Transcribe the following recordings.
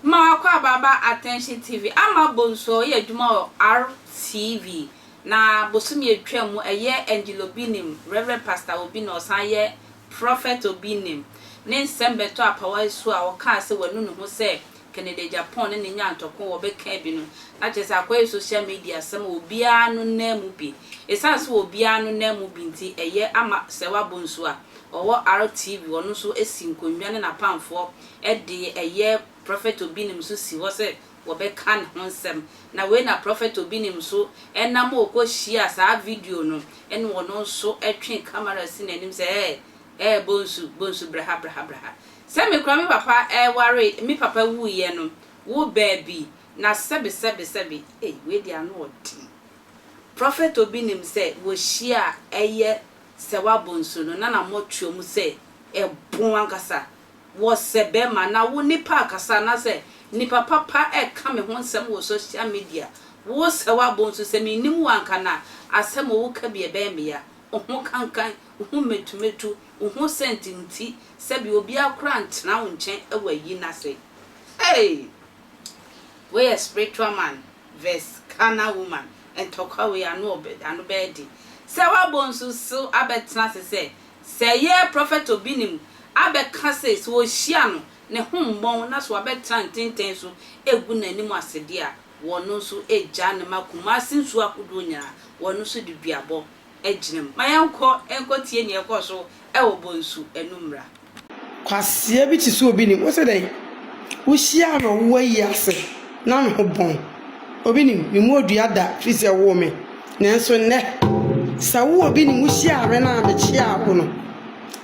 Mma wakɔ abaaba Attention TV ama Bonsuo yɛ adwuma wɔ RTV na bosome atwa mu ɛyɛ Angel Obi Nim, Rev. Pastor Obi na ɔsan yɛ Prophet Obi Nim ne nsɛm bɛtɔ apawa asu a ɔkaa sɛ wanu ne ho sɛ Kennedy agya pɔn ne ne nya ntɔkwa wɔ bɛ kaa bi no na kyerɛ sɛ akɔyɛ social media asɛm a obiara no nan mu bi. Esiane sɛ obiara no nan mu bi nti ɛyɛ ama Sɛwa Bonsu a ɔwɔ RTV ɔno nso si nkonnwa ne n'apamfoɔ de ɛyɛ Prophet Obinim nso si hɔ sɛ wɔbɛ ka ne ho nsɛm na wei na Prophet Obinim nso nam a ɔkɔ hyia saa video no ne ɔno nso twe camera si n'anim sɛ ɛɛ ɛɛ Bonsu Bonsu bra ha bra ha bra ha Sɛ me kora me papa ɛware me papa wu yɛ no wo baabi na sɛbi sɛbi sɛbi ei wei deɛ ano ɔden prophet obi nim sɛ wɔ hyia a ɛyɛ sɛ wa bɔ nsuo no na na mɔ tuo mu sɛ ɛbon ankasa wɔ sɛ bɛma na wo nipa akasa anasɛ nipa papa ɛka me ho nsɛm wɔ social media wo sɛ wa bɔ nsuo sɛ me nim wo anka na asɛm ɔwo ka bi ɛbɛyɛ me ya wo ho kankan wo ho metu metu wo ho sɛnti nti sɛbi obiara koraa ntena wo nkyɛn wɔ ayi no ase hey wei yɛ spiritual man vs carnal woman ntɔkwa wei ano ɔbɛ ano bɛyɛ den sɛ wabɔ nsu so abɛtena ase sɛ sɛ yɛ prophet obi nim abɛka sɛ sɛ ɔhyia no ne ho mmɔn na so wabɛtena ntenten so egu n'anim ase deɛ a wɔno nso gyaa no ma Kumasi nsuo ahodoɔ nyinaa wɔno nso de duabɔ gyina mu. Ma yɛnkɔ nkɔtie nea ɛkɔɔ so wɔ Bonsu anummerɛ. Kwasea bi te sɛ obi nim wo sɛ dɛn wohyiaa no ɔwo ayi ase na ne ho bɔn obi nim me mu odua da firi sɛ woo me nanso nnɛ sɛ wo obi nim wohyiaa me na mekyeaa wo no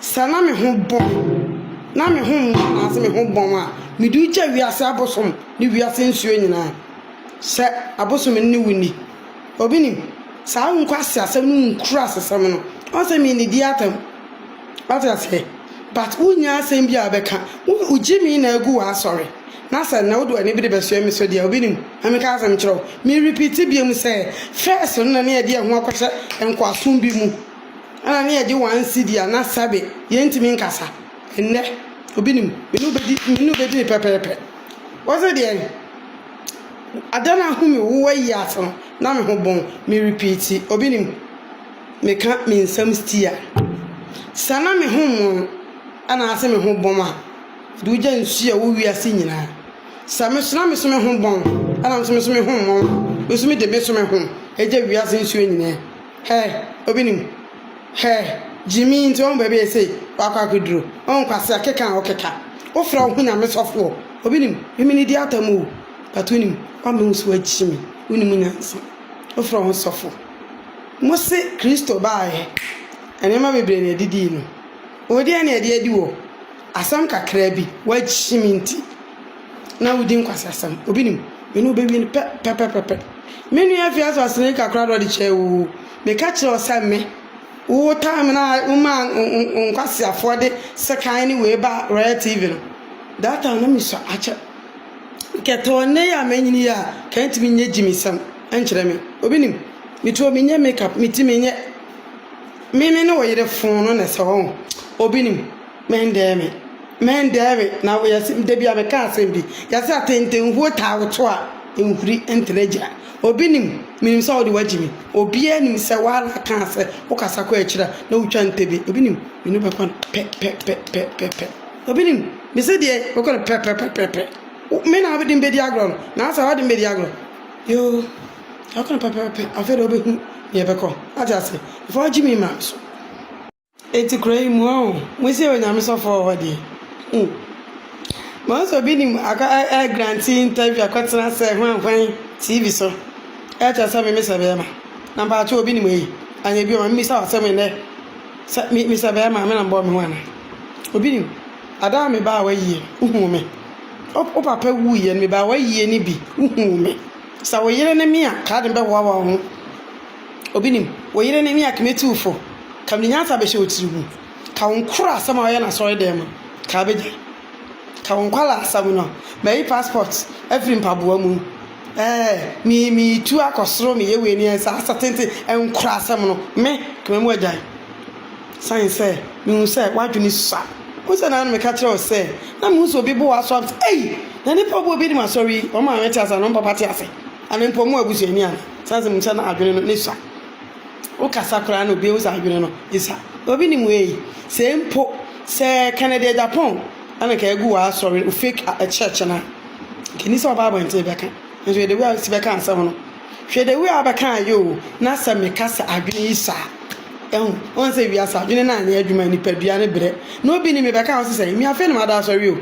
sɛ na me ho bɔn na me ho mma anaase me ho bɔn a mede wogya wiase abosom ne wiase nsuo nyinaa sɛ abosom ne wo ni Obi nim? Saa nkwaseasɛm no nkura asesɛm no. Ɔn sɛ me nnidi atam. Wate aseɛ? But wo nnya asɛm bi a wo bɛka. Wo wo gye me na agu w'asɔre. Na sɛ nnɛ wo de w'ani bere bɛsoɛ me so deɛ, obi nim? Ma me ka asɛm nkyerɛ wo. Me repeat bio mu sɛ, first no na ne yɛde yɛn ho akɔhyɛ nkoasom bi mu. Ɛna ne yɛgye one cedi a na sɛbe yɛntumi nkasa. Nnɛ, obi nim? Me ne wo bɛdi, me ne wo bɛdi no pɛpɛɛpɛ. Wo se deɛn? Adan a home wo ayi ase no na me ho bon me repeat obi nim me ka me nsam stia sɛ na me ho mon anaase me ho bom a de wogya nsu a wo wiase nyinaa sɛ me so na me so me ho bon ɛna me so me ho mon me so me de me so me ho gya wiase nsuo nyinaa. Hɛɛ obi nim hɛɛ gyimii nti wahu baabi a ɛsei wakɔ akɔduro wahu kwasea keka a ɔkeka wofrɛ wo ho nyame sɔfoɔ obi nim memene di atam oo but wonim wama wo so wakyi me wonim nyansa wofrɛ wo ho sɔfo mose kristo baeɛ nneɛma bebree na ɛdidii no wodeɛ na ɛde adi wɔ asɛm kakra bi wakyi me nti. na wodi nkwaseasɛm. Obi nim? Me ne wo bewie no pɛ, pɛpɛpɛpɛ. Me nua Afia so asene kakra na ɔde kyɛɛ wo o. Meka kyerɛɛ wo sɛ me, wo time no a womaa nkwaseafoɔ de sekan ne wei baa Royal TV no, that time na mesua akyɛ. Nkɛtɛwa nnɛ yi a manyini yi a, nka ntumi nyɛ gyimisɛm nkyerɛ me. Obi nim? Me tuo menyɛ makeup, me ti menyɛ. Me me ne wo yere foo no na ɛsɛ hɔ o. Obi nim? Mɛndɛɛ me, mɛndɛɛ me, na yɛse da bi a meka asɛm bi, yɛse atentenhuo taa woto a, nhuri ntena agyina. Obi nim, menim sɛ wode wagye me, obiara nim sɛ woara kaa sɛ wokasa kɔ akyiri a na wotwa ntɛbie. Obi nim, me ne wo bɛkɔ no pɛ pɛ pɛ pɛ pɛ pɛ. Obi nim, mese deɛ bɛkɔ no pɛ pɛ pɛ pɛ pɛ. Wo, me na wode me bɛdi agorɔ no, naasɛ wode me bɛdi agorɔ? Yoo, yɛbɛkɔ no pɛ pɛ pɛ pɛ, afei deɛ wobɛhunu deɛ ɛbɛkɔ. Woate aseɛ? Mfa wagye me mma me so. Enti kura yi mu ɔɔ mosi yɛ onyame sɔfoɔ wɔ hɔ deɛ hmm mahu sɛ obi nim akɔ ɛ grante interview akɔtena sɛ hwan hwan TV so ɛkyerɛ sɛ me mesɛ bɛɛma na mpakyɛw obi nim eyi anyɛ bi ɔma me bisa wo asɛm ɛnɛ sɛ me mesɛ bɛɛma me na mbɔɔ me ho ana obi nim adaa me baa w'ayie no wohuu me wo papa wuiɛ no me baa w'ayie no bi wohuu me sɛ wo yere ne me a kaa de me bɛhoahoa wo ho. Obi nim wo yere ne ne akemetuwfo, ka me nyansa bɛhyɛ wo tiri mu, ka wo nkora asɛm a woyɛ no asɔre dan mu, ka bɛgyae, ka wo nkwadaa asɛm no, mayi passport afiri mpaboa mu, ɛɛ, me, meretu akɔ soro, meyɛ wei ne saa asɛ tenten, nkora asɛm no, me, ka me mu agyae. Sane sɛ, mehu sɛ w'adwene sua. Wohu sɛ na meka kyerɛ wo sɛ, na mehu sɛ obi bo wo aso a, ei, na nnipa a wɔbɔ obi anim asɔre yi, wɔn maame te ase anaa wɔn papa te ase? Ɛno mpo mo abusuani a sɛ sɛ mo sɛ n'adwene no ne sua. Wo kasa koraa no obi ehu sɛ adwene no esua. Obi nim wei. Sɛ mpo sɛ Kennedy Agyapong ɛna nka egu wɔ asɔre wo fake a church no a nka ni sɛ ɔba abɔnten bɛka. Nso hwɛ the way a osi bɛka asɛm no. Hwɛ the way a ɔbɛka ayɛ o na sɛ me ka sɛ adwene yi sua a. Ɛhu wɔn sɛ wiase adwene no anyɛ adwuma nipadua no brɛ. Na obi nim me bɛka wo sɛ sɛ me afei na mada asɔre o.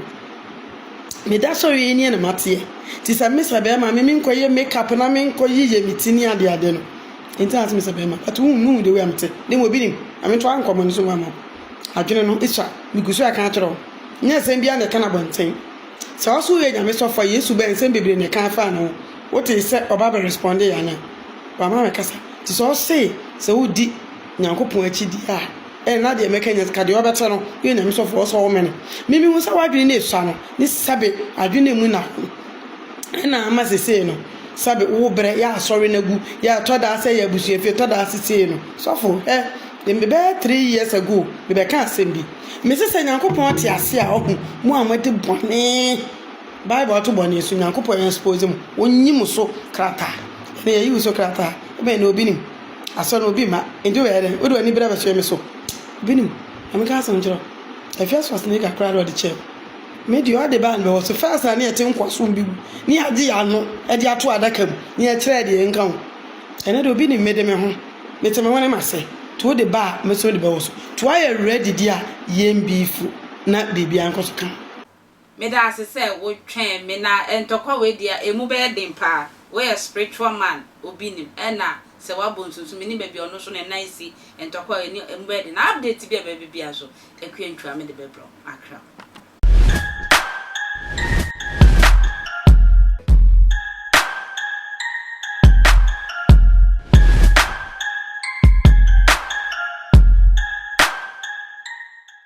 Meda sɛ ɔyɛ nie na mateɛ nti sɛ me sɛ bɛrima me menkɔyɛ make up na menkɔ yeyɛ me ti ne adeɛ adeɛ no nti na me sɛ bɛrima but wohu me hu the way a mete na mmom obi nim na me ntoa nkɔmmɔ no so ma mo adwene no ɛtwa megu so ɛka akyerɛ wo nyɛ nsɛm biara na ɛka no abɔnten sɛ ɔso woyɛ nyame sɔfo a yesu bɛn nsɛm bebree na ɛka afaa ne ho wote sɛ ɔba bɛ responde yɛ ana wama me kasa nti sɛ ɔse sɛ wodi nyankopɔn akyi di a Eh na deɛ mɛka nyɛ sika deɛ ɔbɛte no yɛ nyame sɔfo ɔsɛ ɔwome no me me hu sɛ wadwene no esua no ne sɛbe adwene no mu na ɛna ama sesei no sɛbe wo brɛ yɛ asɔre no agu yɛ ɛtɔ daa sɛ yɛ abusua fie ɛtɔ daa sesei no sɔfo eh me bɛyɛ three years ago me bɛka asɛm bi me se sɛ nyankopɔn ate ase a ɔho mo a moadi bɔne bible ato bɔne so nyankopɔn yɛ expose mo wɔnyi mo so krataa ɛna yɛyi wo so krataa ɛbɛn na obi nim Asɔ no obi mma. Enti wobɛyɛ dɛn? Wode w'ani bere abɛsoɛ me so? Obi nim. Ma menka asɛm nkyerɛ wo. Ɛfi asoa Sneaker koraa na ɔde kyɛɛ me. Me deɛ ɔde baa no bɛwɔ so. First na ne yɛte nkoasom bi mu, ne yɛagye yɛn ano de ato adaka mu, ne yɛkyerɛɛ deɛ yɛnka ho. Ɛnnɛ deɛ obi nim me de me ho. Mete me hwene m'ase. Nti wode ba a, mɛsɔ de bɛwɔ so. Nti woayɛ ready deɛ a, yɛn beefu na biribiara nkɔ so kama. Meda ase sɛ wo twɛn me na ntɔkwa wei deɛ ɛmu bɛyɛ den paa. Wo yɛ spiritual man obi nim ɛna sɛ wabɔ nsu nso menim baabi a ɔno nso ne nan si ntɔkwa wei ɛni ɛmu bɛyɛ den na update bi a ɛbɛba bi biara nso Akua Ntwua mede bɛbrɛ wo makra.